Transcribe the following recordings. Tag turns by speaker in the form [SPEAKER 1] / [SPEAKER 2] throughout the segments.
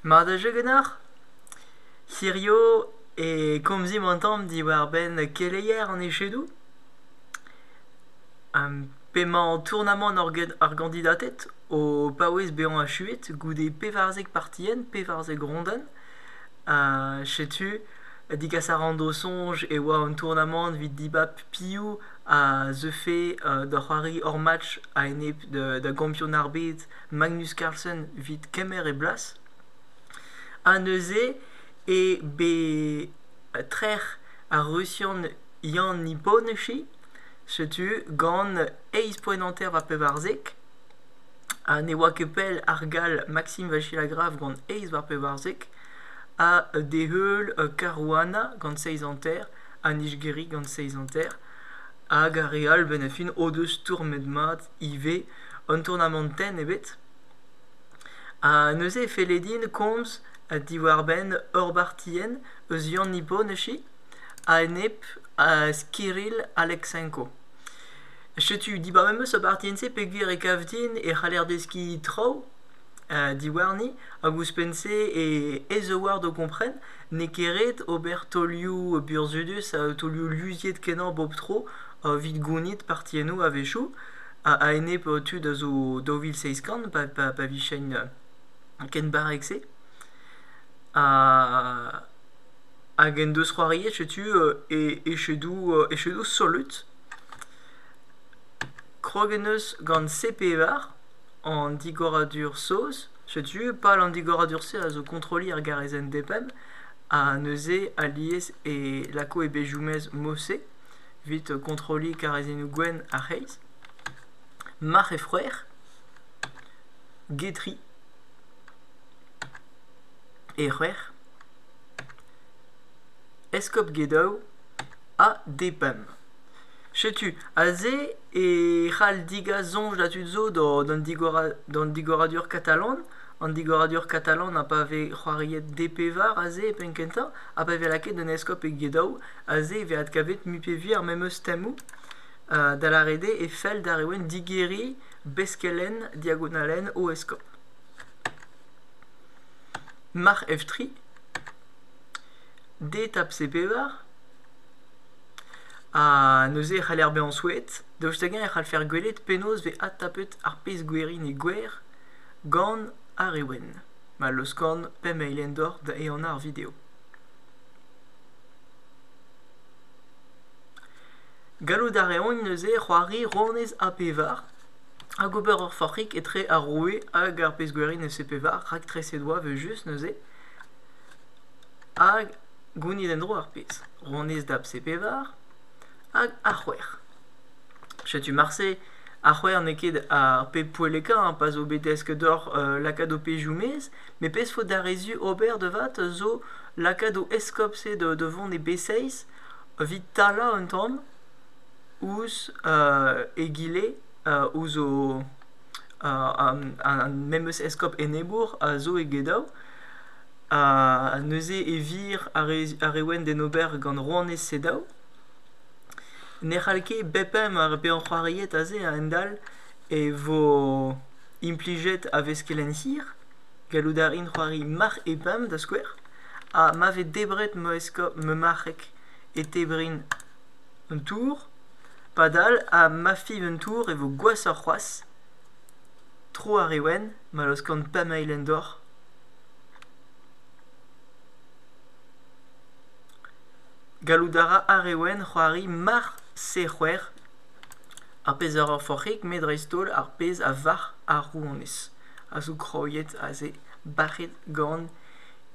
[SPEAKER 1] Mat a jeu ganeoc'h ? Hirio e komzimp an tamm diwar-benn keleier an echedoù. P'emañ o tournamant ar gandidated o paouez bezañ achuet goude pevarzek partienn, pevarzek rondenn. Setu degas a ran d'o soñj e oa an tournamant evit dibab piv a zeufe da c'hoari hor match a-enep da gampionn ar bed. Magnus Carlsen 'vit kemer e blas. Ha neuze eo bet trec'h ar Rusian Yann Iboneshi setu gant eizh poent hanter war pevarzek. Ha ne oa ket pell ar gall Maxim Vachilagrav gant eizh war pevarzek. Ha d'e heul Caruana gant seizh hanter ha Nijgiri gant seizh hanter. Hag ar re all, benn ar fin, o deus stourmet mat ivez un tournamant tenn ebet. Ha neuze e felle din komz diwar-benn ur bartienn eus Yann Iboneshi a-enep uh, Kirill Aleksenko. Setu dibar memes ur bartienn-se peogwir e kav din e c'haller deskiñ traoù uh, diwarni hag ouzhpenn-se e ez-a-ward o kompren n'eo ket ret ober taolioù burzhudus ha taolioù luziet-kenañ bep tro evit gounit partiennoù a-wechoù a-enep tud a zo daou vil seizh kant pa vijent ken barrek-se. Hag en deus c'hoariet setu echedoù echedoù solut. Krog en deus gant C-Pevar an digoradur saoz. Setu pal an digoradur-se a zo kontrolliñ ar garezenn DPEM ha neuze alies e lako e bezhioù-mezh Mosse. evit kontrolliñ karrezennoù gwenn ar c'hreiz, marc'h e froer, getri e c'hwec'h, eskob Gedaou ha Depam. Setu aze e c'hall digas soñj da tud zo d'an digoradur katalan. An digoradur katalan ha pa vez c'hoariet DP war aze e penn kentañ ha pa vez lakaet un eskob e Gedaou. Aze e vez adkavet Mupevi ar memes temoù, da lâret eo e fell d'ar Reouenn digeriñ beskelenn diagonalen o eskob. Marc'h Evtri, D-tap C-pevar, ha neuze e c'haller bezañ souezhet, daoust hag-eñ e c'hall faire gwelet penaos vez adtapet ar pezh gwerin e gwer gant ar Reouenn, ma laoskan pemp eil endor da ehanañ ar video. gallout a reont neuze c'hoari rouanez ap-pevar hag ober ur forc'hig etre ar roue hag ar pezh-gwerin eus e-pevar raktreset oa evel-just neuze hag gounit en-dro ar pezh rouanez dap c-pevar hag ar c'hwec'h setu marse ar c'hwec'h n'eo ket ar pep poellekañ pa zo bet desket deoc'h lakaat ho pezhioù-mezh met pezh faot d'ar re zu ober devat zo lakaat o eskob-se da vont e B6 evit talañ un tamm ouzh egile ouzh o ar memes eskob enebour a zo e Gedaou neuze e vir ar re wenn d'en ober gant rouanez Sedaou ne c'hall ket bep eñ mar eo bet anc'hoariet aze a-hend-all e vo Implijet a vez kelenn hir, gallout a rin c'hoari marc'h e bam da skouer, ha ma vez debret ma eskob ma marc'heg e tebrin un tour. Padal ha ma fiv un tour e vo gwashoc'h c'hoazh. Tro ar re wenn ma laoskan pamail en dor. Gallout a ra ar re wenn c'hoari marc'h C c'hwec'h ar pezh a ra forc'hig met dreist-holl ar pezh a varc'h ar rouanez a zo graet aze bac'het gant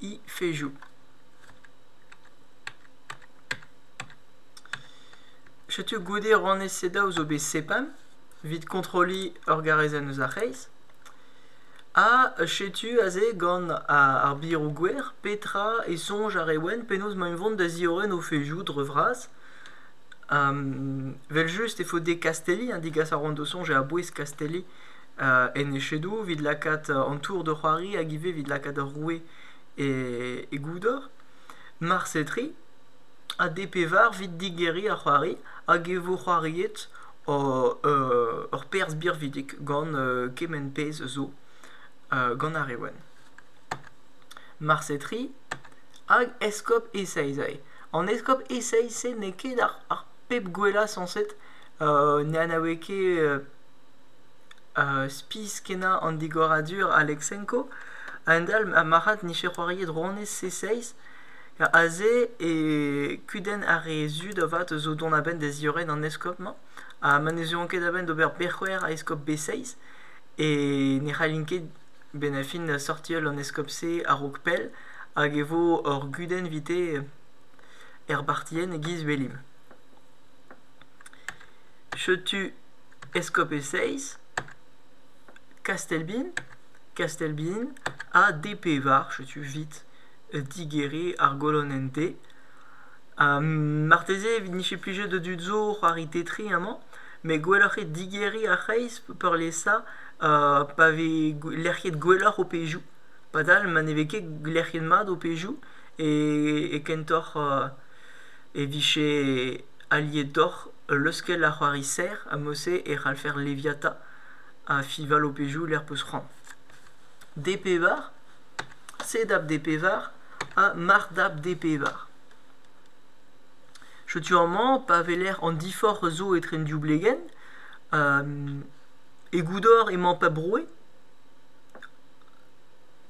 [SPEAKER 1] he fezhioù setu goude rann sedav zo bet sepam evit kontrolliñ ur garezenn eus ar c'hreiz ha setu aze gant ar biroù-gwer petra e soñj ar reolenn penaos emaint vont da ziorren o fezhioù dre vras Evel-just e faot dezhe kastelliñ, ha degas a roont o soñj a-bouez kastelliñ en echedoù evit lakaat an tour da c'hoari hag ivez evit lakaat ar roue e goudor. Marse tri ha dezhe pevar evit digeriñ ar c'hoari hag e vo c'hoariet ur perzh birvidik gant kement pezh zo gant ar re wenn. Marse tri hag eskob Esaezai. An eskob Esaïs-se n'eo ket ar pep gwellañ sañset, ne anaoue ket spis-kenañ an digoradur Aleksenko. A-hend-all, ha marc'had n'ije c'hoariet rouanez Esaïs. Aze e kudenn ar re zud avat zo dont a-benn da ziorren an eskob-mañ, ha ma ne zeuont ket a-benn d'ober bec'hwer a eskob Esaïs, e ne c'hallint ket Benafin da sortial an eskob-se a-raok pell hag e vo ur gudenn vite er bartienn e-giz Welimp. Setu eskob e seizh, Kastelbin, Kastelbin ha D pevar, setu vit digeriñ ar golonenn D. Ha marteze e vije plijet da dud zo c'hoari Tetris amañ. met gwelloc'h eo digeriñ ar c'hreiz peurliesañ pa vez lec'hiet gwelloc'h ho pezhioù. Padal ma ne vez ket lec'hiet mat ho pezhioù e kentoc'h e vije alietoc'h leuskel ar c'hoari serr ha mod-se e c'hallfer leviata ha fiñval ho pezhioù lec'h 'peus c'hoant. D pevar, C dab D pevar ha marc'h dab D pevar. Setu amañ pa weler an diforc'h zo etre an div blegenn. E goudor emañ pep roue.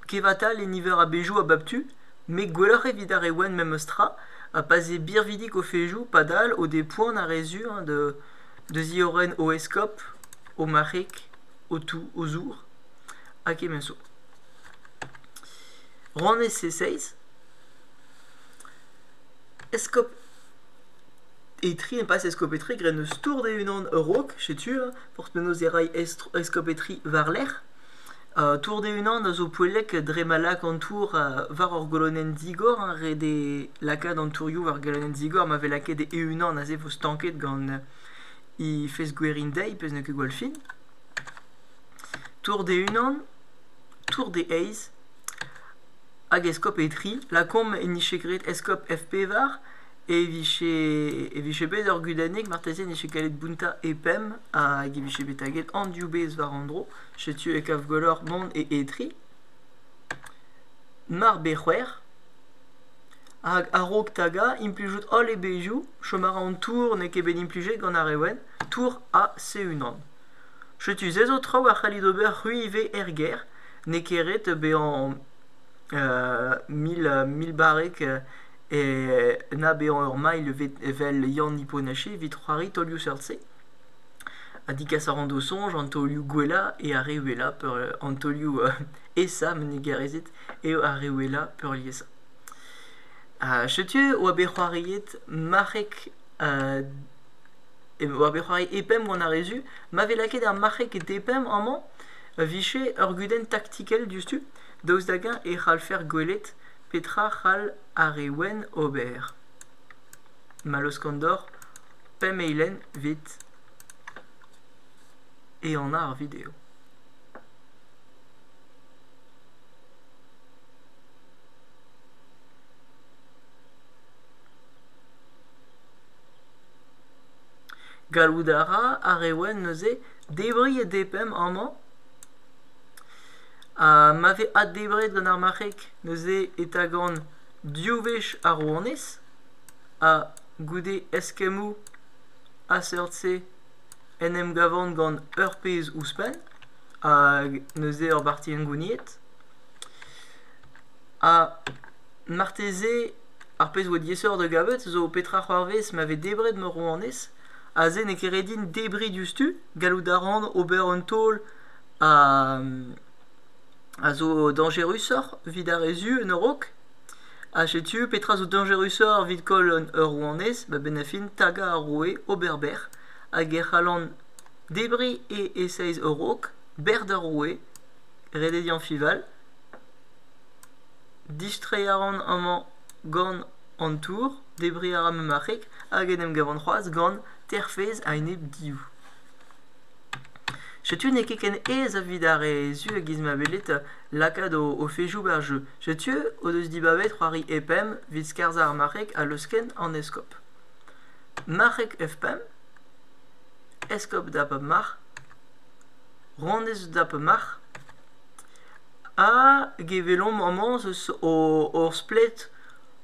[SPEAKER 1] Kevatal e niver a-bezhioù a bep tu, met gwelloc'h evit ar re wenn memes tra, pa 'z eo birvidik o fezhioù padal o depoan ar re sur hein, da ziorren o eskob, o marc'heg, o tou, o zour ha kement zo. Rann ese seizh. Eskob Etri, impasse Eskob Etri, graet eus tour d'e-unan a-raok, setu, hein, porte mennoz e ray Eskob Etri war-lerc'h. Uh, tour d'e-unan a zo poellek dre ma lak an tour uh, war ur golonenn digor, hein, ret eo lakaat an tourioù war golonenn digor ma vez lakaet e-unan aze e vo stanket gant he fezh-gwerindeiz, pezh n'eo ket gwall fin. Tour d'e-unan, tour d'e eizh, Hag eskob e tri, lakaomp e nije graet eskob F-pevar e vije e vije bet ur gudennig marteze e nije gallet bountañ e pemp hag e vije bet taget an div bezh war an dro. Setu e kav gwelloc'h mont e e tri. Mar bez c'hwec'h hag a-raok tagañ implijout holl e bezhioù. Chom a ra an tour n'eo ket bet implijet gant ar re wenn. Tour A C-unan. Setu se zo traoù a c'hallit ober c'hwi ivez er gêr. n'eo ket ret bezañ mil barrek na bezañ ur mailh evel Yann Iponache evit c'hoari taolioù seurt-se. Ha digas a ran d'o soñj an taolioù gwellañ eo ar re wellañ peurliesañ an taolioù aesañ ma ne gaerezit eo ar re wellañ peurliesañ. Setu e oa bet c'hoariet marc'heg e oa bet c'hoari e pemp gant ar re zu ma vez lakaet ar marc'heg e pemp amañ. Pa vije ur gudenn taktikel diouzhtu, daoust hag-eñ e c'hallfer gwelet petra c'hall ar re wenn ober? Mallozh Kandor, pemp eilenn 'vit ehanañ ar video. Gallout a ra ar re wenn neuze Debriñ e DPM amañ. Ha ma vez addebret gant ar marc'heg neuze e tagan div wech ar rouanez ha goude eskemmoù a-seurt-se en em gavan gant ur pezh ouzhpenn hag neuze ur barti hengouniet. Ha marteze ar pezh a oa diaesoc'h da gavet zo petra c'hoarvez ma vez debret ma rouanez. Aze n'eo ket ret din debriñ diouzhtu. Gallout a ran ober un taol a a zo dañjerusoc'h evit ar re zu en ur raok. Ha setu petra zo dañjerusoc'h evit koll un ur rouanez a-benn ar fin tagañ ar roue, ober bec'h. Hag e c'hallan debriñ e esaez ur raok, bec'h d'ar roue, redediañ Fival. Distreiñ a ran amañ gant An tour, debriñ a ra ma marc'heg hag en em gavan c'hoazh gant terfezh a-enep div. Setu n'eo ket ken aes evit ar re zu e-giz ma welet lakaat o, o fezhioù war jeu. Setu o deus dibabet c'hoari E-pemp evit skarzhañ ar marc'heg ha leusken an eskob. Marc'heg F-pemp, eskob da pep marc'h, rondez da pep marc'h. Ha gevelomp amañ eus hor splet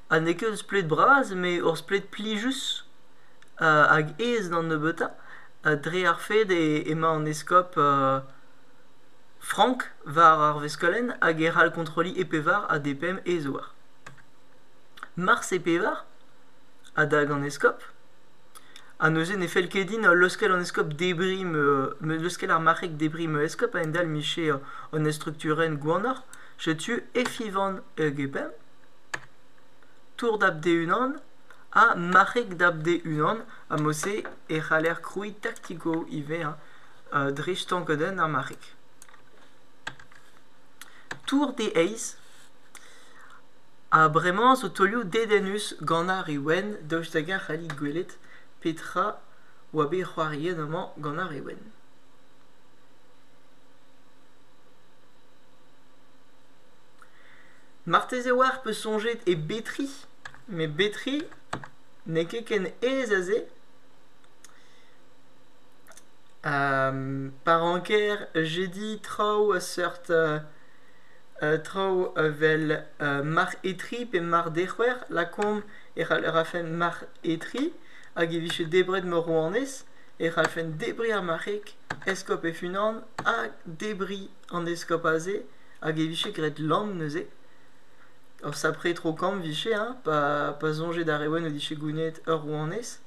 [SPEAKER 1] ha n'eo ket ur splet bras met ur splet plijus hag aes d'an nebeutañ dre ar fed emañ an eskob frank war ar veskolenn hag e c'hall kontrolliñ e pevar ha d' e pemp e zouar. Mars e pevar adag an eskob ha neuze ne fell ket din leuskel an eskob debriñ leuskel ar marc'heg debriñ ma eskob a-hend-all 'mije un estrukturenn gwanoc'h Setu Efyvan Euguben, Tour dab d'e-unan ha Marc'heg dab d'e-unan. Ha mod-se e c'haller krouiñ tactico ivez hein, euh, dre stankadenn ar marc'heg. Tour d'e eizh ha bremañ zo taolioù dedennus gant ar re wenn, daoust hag a c'hallit gwelet petra oa bet c'hoariet amañ gant ar re wenn. Marteze oac'h peus soñjet e Betri met Betri n'eo ket ken aes aze. pa ranker j'ai dit traoù a seurt traoù evel mar Etri pe mar Dec'hwer lakaomp e rafen mar Etri hag e vije debret ma rouanez e c'hallfen debriñ ar marc'heg eskob e-unan ha debriñ an eskob aze, hag e vije graet lamm neuze. Ur sapre tro-kamm vije, hein, pa, pa soñje d'ar re wenn o dije gounezet ur rouanez.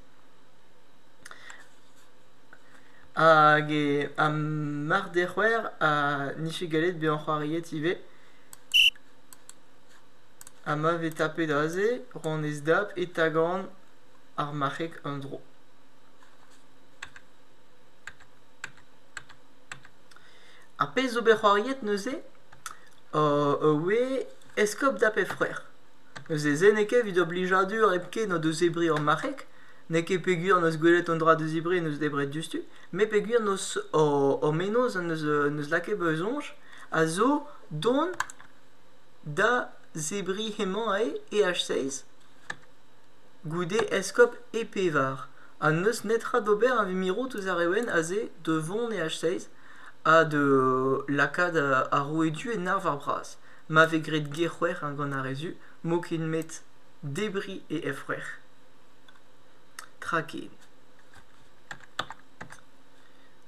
[SPEAKER 1] Hag e, ha mar dec'hwer ha n'ije gallet bezañ c'hoariet ivez. Ha ma vez tapet aze, rouanez Dab e tagan ar marc'heg en-dro. Ar pezh zo bet c'hoariet neuze oe eskob da'p he c'hwec'h. Neuze se n'eo ket evit o blijadur hepken o deus zebriñ hor marc'heg, n'eo ket peogwir n'eus gwelet un dra da zebriñ en deus debret diouzhtu, met peogwir n'eus o mennozh en deus en deus lakaet bezañ soñj a zo dont da zebriñ hemañ eo EH6 goude eskob E pevar. ha n'eus netra d'ober evit mirout ouzh ar evn aze da vont e H6 ha da lakaat ar roue du en arvar bras ma vez graet ger-c'hwec'h gant ar re zu m'eo ket met debriñ e f-c'hwec'h tra ken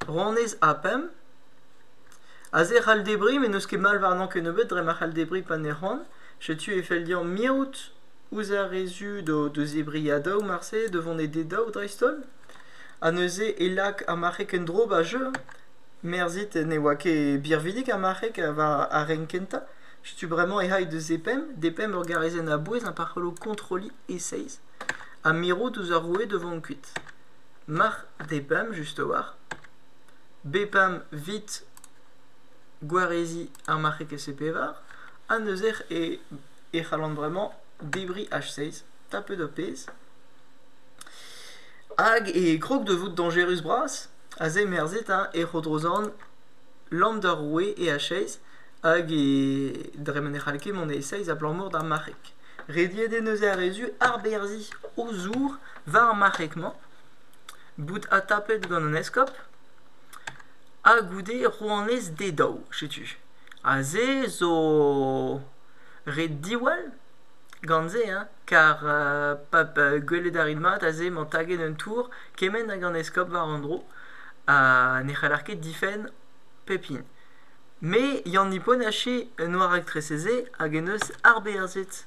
[SPEAKER 1] ronez ha pemp aze e c'hall debriñ met n'eus ket mall warnañ kennebeut dre ma c'hall debriñ pa ne c'hoant setu e fell deomp mirout ouzh ar re zud o deus e briadoù marse da vont e dedaou dreist-holl ha neuze e lak ar marc'heg en-dro 'ba jeu merzit ne oa ket birvidik ar marc'heg war ar renk kentañ setu bremañ e c'hai deus e pemp d'e pemp ur garezenn a-bouez ha pa c'hello kontrolliñ e seizh ha mirout ouzh ar roue da vont kuit mac'h d'e pemp just a-walc'h b-pemp 'vit gwareziñ ar marc'heg e-se pevar ha neuze e e c'hallan bremañ debriñ H6 tapet ho pezh hag e grog da vout dañjerus-bras a zemerzhe 'ta e Rodrozorn Landerway e H6 hag e dre ma ne c'hall ket mont e E6 abalamour d'ar marc'heg. Rediet eo neuze ar re zu arberzhiñ o zour war ar marc'heg-mañ, bout adtapet gant an eskob ha goude rouanez d'e daou, setu. Aze zo... Ret diwall gant se hein, kar pa gwelet a rit mat aze emañ taget un tour kement hag an eskob war an dro ha ne c'haller ket difenn pep hini. Me Yann Niponache en oa raktresez-se hag en deus arberzhet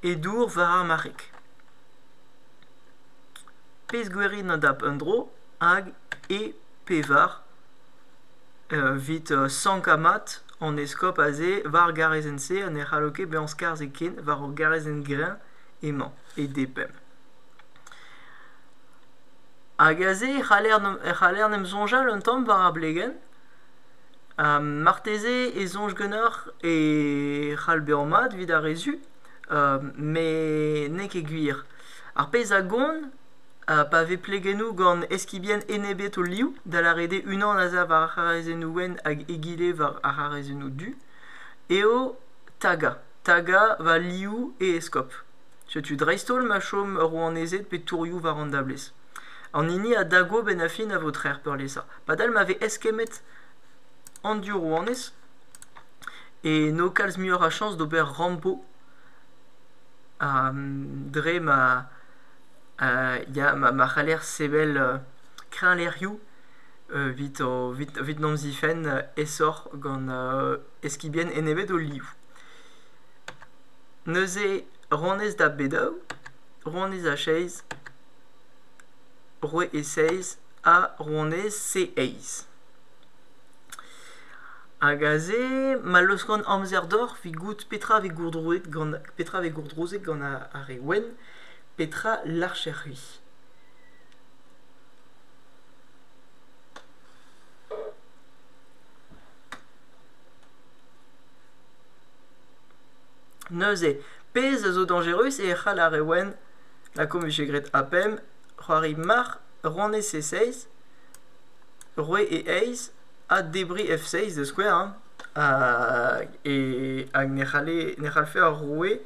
[SPEAKER 1] e dour war ar marc'heg. Pezh gwerin an dap un dro hag e pevar. Evit sankañ mat an eskob aze war ar garrezenn-se ha ne c'hallo ket bezañ skarzhet ken war ur garrezenn greñv emañ e depemp. Hag aze e c'haller e c'haller en em soñjal un tamm war ar blegenn. marteze e soñj ganeoc'h e c'hall bezañ mat evit ar re zu, met n'eo ket gwir. Ar pezh a gont Ha pa vez plegennoù gant eskibien enebet o liv, da lâret eo unan a sav ar c'harazennoù wenn hag egile war ar c'harazennoù du, eo tagañ. Tagañ va liv e eskob. Setu dreist-holl ma chom rouanezed pe tourioù war an dablez. An hini a dago benn-ha-fin a vo trec'h peurliesañ. Padal ma vez eskemmet an div rouanez e n'eo kalz muioc'h a chañs d'ober rambo ha dre ma ya ma c'haller sevel kreñvlec'hioù evit en em zifenn aesoc'h gant eskibien enebet o liv. Neuze ronez da b-daou, ronez a seizh, roue e seizh ha ronez c-eizh. Hag aze ma laoskan amzer deoc'h 'vit goût petra 'vez gourdrouzet gant ar re wenn. Petra 'larcher-c'hwi ? Neuze, pezh a zo dañjerus eo e c'hall ar re wenn, lakaomp e vije graet APEM, c'hoari marc'h ronne C6, roue E6 ha debriñ F6 da skouer hein. Hag e hag ne c'halle ne c'hallfe ar roue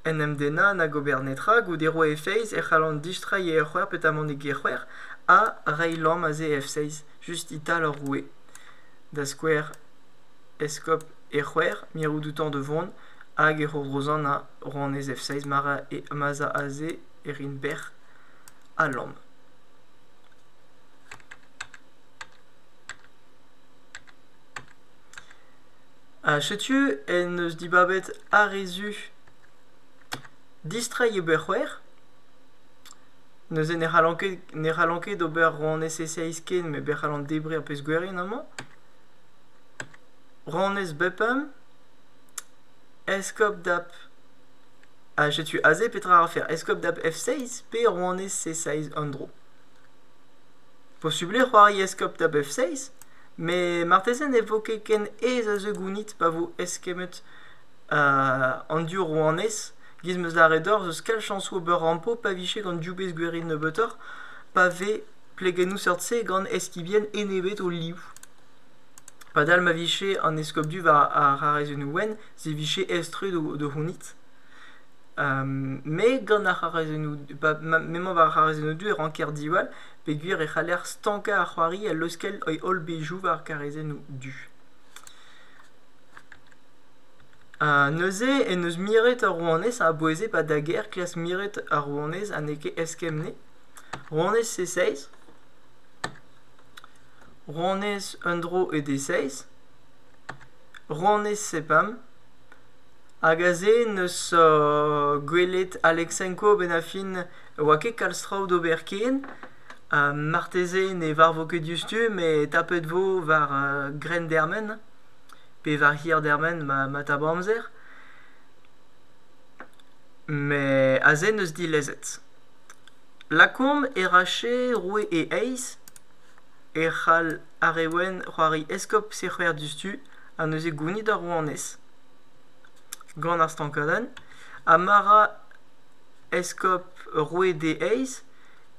[SPEAKER 1] en em dennañ nag ober netra goude roe e feiz e c'hallan distreiñ e eur c'hwec'h petamant e gec'hwec'h ha reiñ lamm aze e f-seiz just e-tal ur roue da skouer eskob e c'hwec'h mirout outañ da vont hag e c'horozanañ rouanez f-seiz ma 'z a aze e rin bec'h ha lamm Ha setu en deus dibabet ar re zu distreiñ ober c'hwer. Neuze ne c'hallan ket, ne c'hallan ket ober rouanez SSIS ken, met bet c'hallan debriñ ar pezh gwerien amañ. Rouanez Bupam, eskob dap... Ha setu aze petra a rafer, eskob dap F6 pe rouanez C6 en dro. Posubl eo c'hoari eskob dap F6? Met marteze ne vo ket ken aes a zeu gounit pa vo eskemmet an div rouanez. Gis 'm eus lâret deoc'h eus kalz chañsoù ober rampo pa vije gant div bezh gwerin nebeutoc'h, pa vez plegennoù seurt-se gant eskibien enebet o liv. Padal ma vije an eskob du war ar c'harrezennoù wenn, se vije aes-tre da c'hounit. me gant ar c'harrezennoù, m'emañ war ar c'harrezennoù du e ranker diwall. peogwir e c'haller stankañ ar c'hoari ha leuskel he holl bezhioù war karrezennoù du. neuze en deus miret ar rouanez a aboueze ba da gêr klask miret ar rouanez ha n'eo ket eskemp-ne. Rouanez C6 Rouanez un dro e D6 Rouanez C5 hag aze 'neus gwelet Aleksenko benn ar fin ne oa ket kalz traoù d'ober ken. Ha marteze ne varvo ket diouzhtu met tapet vo war grenn dermen pe war hir dermen ma tap amzer. Met aze n'eus dilezet. Lakaomp Erache, roue e eizh, e c'hall ar re wenn c'hoari eskob sec'her diouzhtu ha neuze gounit ar rouanez gant ar stankadenn. Ha ma ra eskob roue d'e eizh,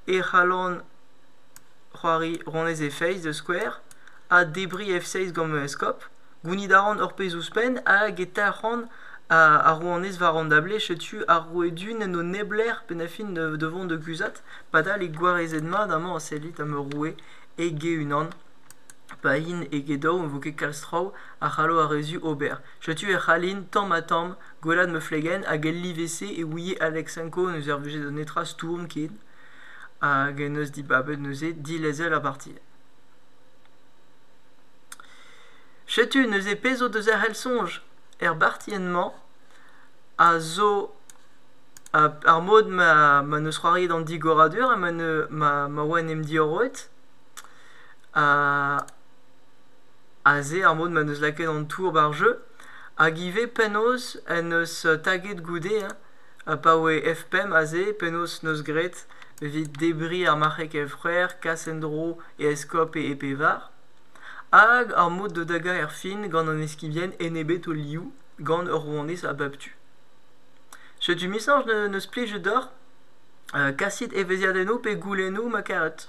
[SPEAKER 1] e c'hallan c'hoari honnezh e feiz da skouer, ha debriñ F6 gant ma eskob. Gounit a ran ur pezh ouzhpenn hag e talc'han ar rouanez war an dablez. Setu ar roue du n'en do neblec'h pennañ-fin da vont da guzhat. Padal eo gwarezet-mat amañ a sellit ema roue e-ge-unan. Pa int e-ge daou e vo ket kalz traoù a c'hallo ar re zu ober. Setu e c'hallin tamm-ha-tamm Gwellat ma flegenn hag el live-se e ouie Aleksenko ne servije da netra stourm ken hag en deus dibabet neuze dilezel ar parti. Setu neuze pezh zo deus ar c'hell-soñj er bartienn-mañ a zo ar mod ma ma neus c'hoariet an digoradur ha ma ne ma ma oa en em diorroet. Ha Aze ar mod m'en deus lakaet an tour ba'r jeu, hag ivez penaos en deus taget goude hein, pa oe F5 aze, penaos 'neus graet evit debriñ ar marc'heg F-c'hwec'h, kas en-dro e eskob e pevar. Hag ar mod da dagañ erfin gant an eskibien enebet o liv gant ur rouanez a bep tu. Setu 'misañs ne- n'eus plij deoc'h. kasit evezhiadennoù pe goulennoù ma karet.